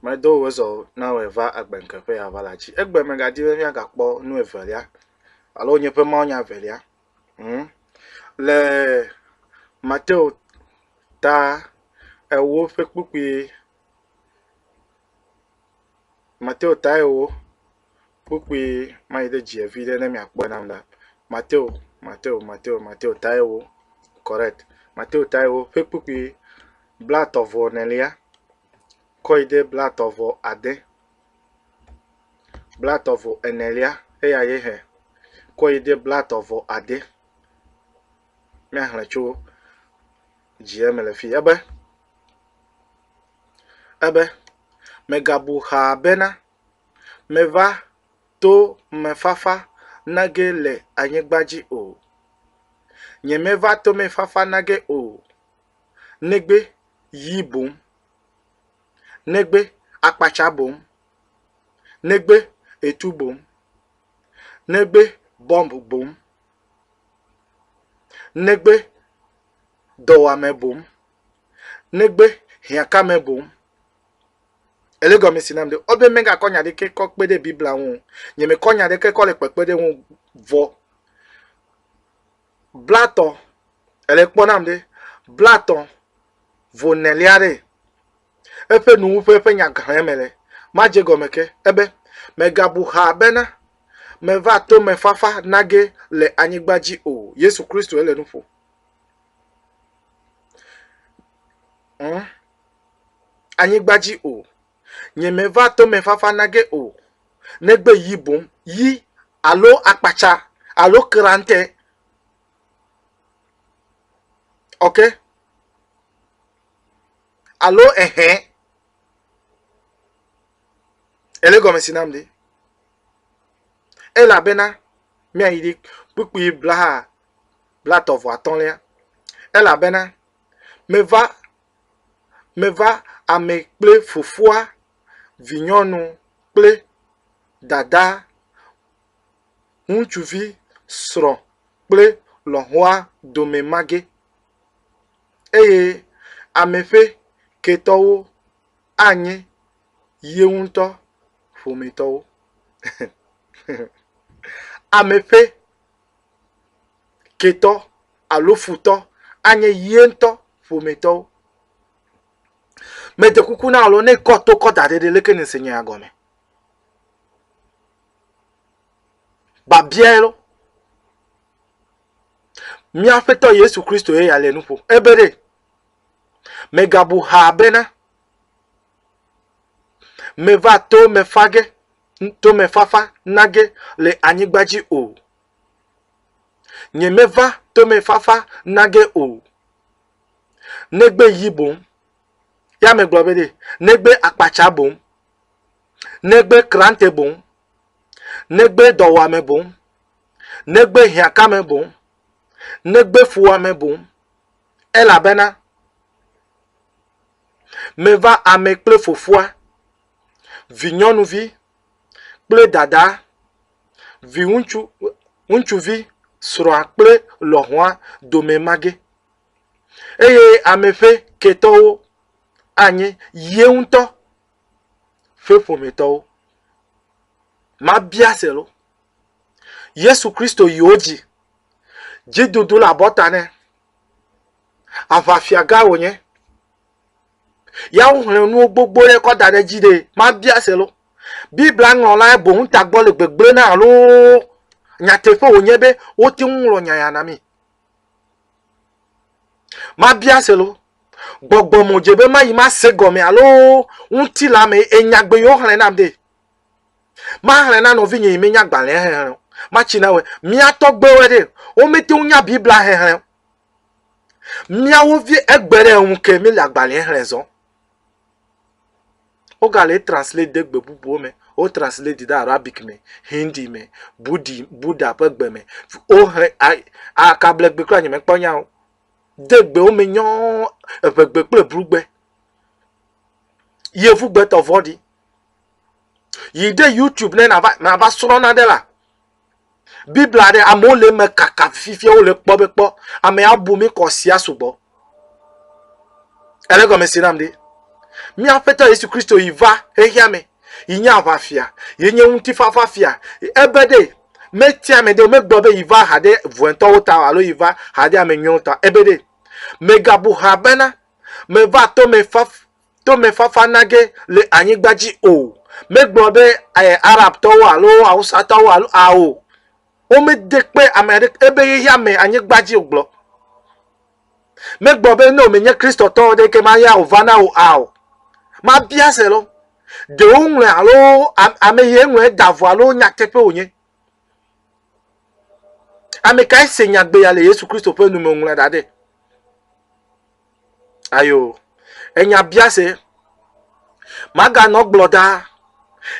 Medo wò zɔ na wòe va agbe ŋke ƒe ya va la dzi. Egbe mègadi be míagakpɔ nu evelia alo nye ƒe mawunya evelia ŋu. Le Mateo ta ewo ƒe kpukpui Mateo ta ewo kpukpui ma yi ɖe dzia vi ɖe ne miakpɔe nam la, Mateo, Mateo, Mateo, Mateo Taiwo, correct, Mateo Taiwo ƒe kpukpui blatɔ vɔ enelia kɔ yi ɖe blatɔ vɔ ade, blatɔ vɔ enelia eya ye hɛ kɔ yi ɖe blatɔ vɔ ade. Míaxlẽ tso dzia me le fi ebe, ebe, mègabu xaa bena, Mèva to mefafa nage le anyigba dzi o. Nyemeva tomefafa nage o, negbe yi boŋ, negbe akpatsa boŋ, negbe etu boŋ, negbe bɔmb boŋ, negbe dɔwuame boŋ, negbe hiãkame boŋ, Ele gɔme si nam ɖe ɔ be megakɔ nya ɖeke kɔ kpe ɖe Biblia ŋu o. Nye me kɔ nya ɖeke kɔ le kpekpe ɖe ŋu vɔ. Blatɔ, ele kpɔ nam ɖe blatɔ vo nelia ɖe eƒe nuwuƒe eƒe nya gãe me le. Madze gɔme ke, ebe, Megabu xaa bena meva tomefafa nage le anyigba dzi o. Yesu Kristoe le nu ƒo. Ŋ. anyigba dzi o, nyemeva tomefafa na ge o, negbe yi boŋ, yi alo akpatsa alo krantɛ. Ok? Alo ehɛ. Ele gɔme si nam ɖi. Elabena míayi ɖi kpukpui blaha blatɔ vɔ atɔ̃lia. Elabena meva Meva ame kple fofoa, vinyɔnu kple dada, ŋutsuvi, srɔ̃ kple lɔ̃xoa dome mage, eye ame ƒe ketɔwo anye ye ŋutɔ ƒometɔwo. Ame ƒe ketɔ alo futɔ anye ye ŋutɔ ƒometɔwo. Mede kuku na wò alo ne kɔ to kɔ da ɖe ɖe leke nèse nya ya gɔme? Babiae lɔ. Mía Aƒetɔ Yesu Kristo ye ya le nu ƒom. Ebe ɖe, mègabu ha bena, meva to me fa ge tomefafa nage le anyigba dzi o. Nyemeva tomefafa nage o. Negbe yi boŋ. Ya megblɔ be ɖe, negbe akpatsa boŋ. Negbe krante boŋ. Negbe dɔwɔame boŋ. Negbe hiãkame boŋ. Negbe fuwɔame boŋ. Elabena meva ame kple Fofoa vinyɔnuvi kple dada, viŋutsu, ŋutsuvi, srɔ̃a kple lɔ̃xoa dome mage eye ame ƒe ketɔwo anye ye ŋutɔ ƒe ƒometɔwo. Mabia se lo. Yesu Kristo yi wo dzi. Dzidudu le abɔta nɛ. Aʋafiagã wònye. Ya woxlẽ nuwo gbogbo ɖe kɔ da ɖe edzi ɖee. Mabia se lo. Biblia ŋlɔlae boŋ tagbɔ le gbegblẽ na alo nyateƒe wònye be wote ŋu ŋlɔ nya ya na mí? Mabia se lo. Gbɔgbɔ me wòdze be mayi mase gɔme alo ŋutilã me ye nyagbe yi woxlẽ nam ɖee. Maxlẽ na nɔvinye yi menya gbalẽa xexlẽ o. Matsi na wɔe. Mía tɔgbuiwo ɖe, womete ŋu nya Biblia xexlẽ o. Míawo vie egbe ɖe eŋu ke míele agbalẽa xlẽ zɔ. Wogale etranslate de gbe bubuwo me. Wotranslate yi ɖe Arabic me, Hindi me, Budi, Buda ƒe gbe me. Woxlẽ a, a kablegbe kura nyemekpɔ nya o. De gbewo me nyɔɔ, eŋegbe kple blugbe. Yevugbetɔ vɔ̃ɖi. Yi ɖe YouTube ne nàva, nàva srɔ̃ nane la, Biblia ɖe amewo le eme kaka fifia wole kpɔ be kpɔ ame abu mi kɔ sia sugbɔ. Ele gɔme si nam ɖi. Mía Aƒetɔ Yesu Kristo yi va xexea me yi nye aʋafia, yi nye ŋutifafa fia. Ebe ɖe metia ame ɖe megblɔ be yi va ha ɖe vɔ̃etɔwo ta alo yi va ha ɖe ame nyuiwo ta. Ebe ɖe megabu ha bena meva to me faf tomefafa nage le anyigba dzi o. Megblɔ be eh, Arabtɔwo alo Awusatɔwo alo ao. Womede kpe ame aɖeke ebe ye ya me anyigba dzi o gblɔ. Megblɔ be ne wòmenye Kristotɔ o ɖeke ma ya wòva na wò ao. Mabia se lɔ. Ɖewo ŋlɔe alo ame ye ŋlɔe da vɔ alo nyateƒe wònye. Ame kae se nyagbe ya le Yesu Kristo ƒe nu me wòŋlɔe da ɖe? Ayo, enya biase. Maganɔ gblɔ ɖa.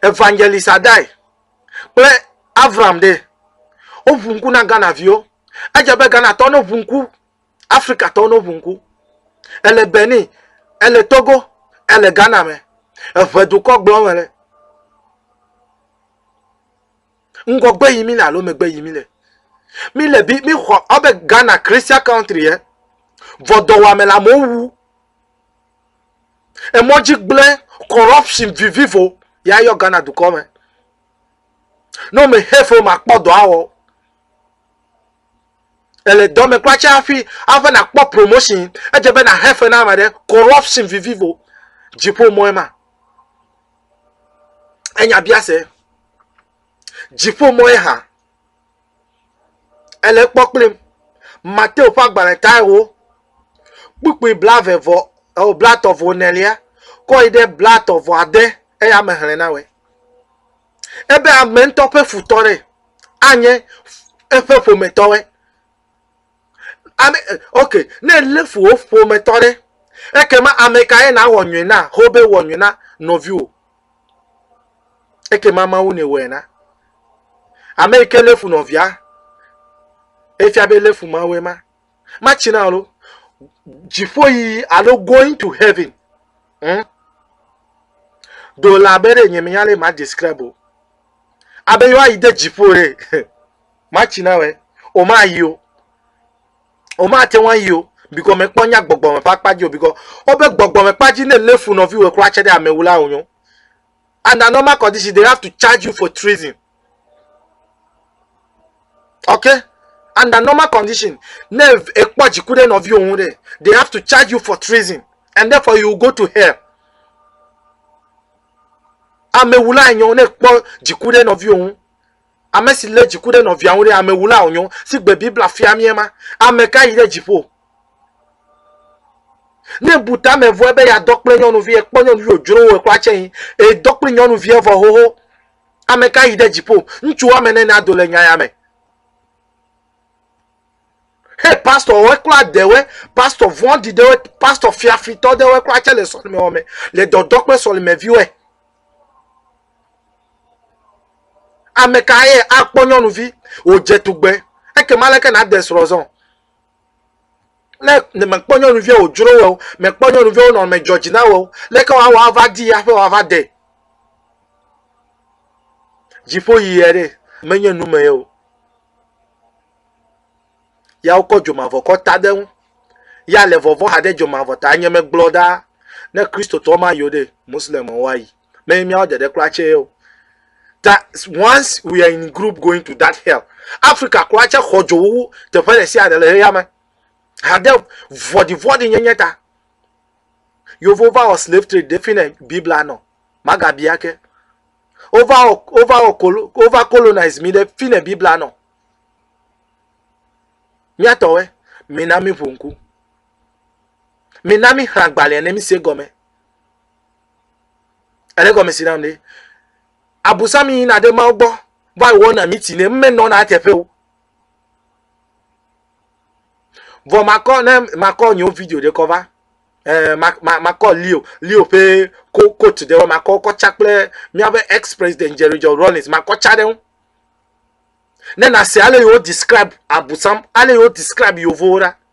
Evangelist Adai kple Avram ɖe woʋu ŋku na Ghana viwo. Edze be Ghana tɔ no ʋu ŋku. Afrika tɔ no ʋu ŋku. Ele Benin, ele Togo, ele Ghana me. Eʋe dukɔ gblɔ me le. Ŋgɔgbe yim míle alo megbe yim míle? Míle bi míxɔ abe Ghana Christian country ye. Vɔdɔwɔame le amewo wu. Emɔdzi gblẽ corruption vivivo ya yɔ Ghana dukɔ me. Ne wome hate wo makpɔ dɔ awɔ. Ele dɔ me kura tse hafi ave nakpɔ promotion edze be na hate na ame ɖe corruption vivivo dziƒo mɔe ma. Enya biase. Dziƒo mɔ ye hã. Ele kpɔ kplim. Mateo ƒe agbalẽ tae wo. Kpukpui blave vɔ eo eh, blatɔ vɔ nelia kɔ yi ɖe blatɔ vɔ ade eya me hlẽ na wɛ. Ebe ame ŋutɔ ƒe futɔ ɖe anye eƒe ƒometɔwe. Ame ok, ne lé fu wò ƒometɔ ɖe, ekema ame kae nàwɔ nyui na? Xobe wɔ nyui na nɔviwò. Ekema Mawu nèwɔe na. Ame yi ke lé fu nɔvia, efia be lé fu Mawue ma. Matsi na alo dziƒo yi alo going to heaven. Hmm? Do la be ɖe nye menya le ma describe o. Abe yewoayi de dziƒo ɖe. Matsi na wɛ o mayi o. O ma te ŋua yi o bikɔ me kpɔ nya gbɔgbɔ me ƒe akpa dzi o bikɔ o be gbɔgbɔ me kpa dzi ne le fu nɔvi wɛ kura tse ɖe ame wu la o nyo. And a normal condition they have to charge you for treason. Okay? And a normal condition ne ekpɔ dzi ku ɖe nɔvi o ŋu ɖe they have to charge you for treason and therefore you go to hell. Ame wu la enyo ne ekpɔ dzi ku ɖe nɔvi o ŋu. Ame si lé dziku ɖe nɔvia ŋu ɖe, amewulaa wònyo. Si gbe Biblia fia míe ma. Ame ka yi ɖe dziƒo? Ne èbu ta me vɔe be yeadɔ kple nyɔnuvi, èkpɔ nyɔnuvi wòdzro wò, èxɔ atsɛ yi, èdɔ kple nyɔnuvia vɔ xoxo. Ame ka yi ɖe dziƒo? Ŋutsu woame ene nado le nya ya me. Hey, pastor woe kura ɖewoe, pastor vɔɖi ɖewoe, pastor fiafitɔ ɖewoe kura tsɛ le sɔlimewɔ me, le dɔdɔ kple sɔlimeviwoe. Ame ka ye akpɔ nyɔnuvi wòdze tugbe? Ekema aleke nàde srɔ̃ zɔ? Ne mèkpɔ nyɔnuvia wòdzro wò o, mèkpɔ nyɔnuvia wo nɔnɔme dzɔ dzi na wò o, leke wòawɔ ava dii hafi wòava de? Dziƒo yiyia ɖe, menye nu me ye o. Ya wokɔ dzomavɔkɔ ta ɖe eŋu. Ya le vɔvɔ̃ haɖe dzomavɔ ta. Nye megblɔ ɖaa, ne Kristotɔ mayi o ɖe, Moslemwo ayi. ne míawo dede kura tse o ta once we are in group going to that hell africa kura tse xɔ dzo wu teƒe ɖe sia ɖe le xeyame hade vɔɖivɔɖi nyenye ta yevu va wɔ slave trade ɖe fi ne biblia nɔ magabia ke wova wɔ wova wɔ kolo wova colonize mi ɖe fi ne biblia nɔ míatɔwɛ mina mi ƒo ŋku mina mi xlã gbalẽ ne mi se gɔme Ele gɔme si nam ɖe. Abusam yina ɖe Mawu gbɔ va wɔna miti nɛ. Menɔna eteƒe o. Vɔ makɔ ne makɔ nyewo video ɖe kɔ va. Eh, makɔ Leo, Leo ƒe ko coach ɖe makɔ kɔ tsa kple míaƒe ex president Jerry John Rawlings makɔ tsa ɖe ŋu. Ne nase ale yewo describe abusam, ale yewo describe yevowo ɖa.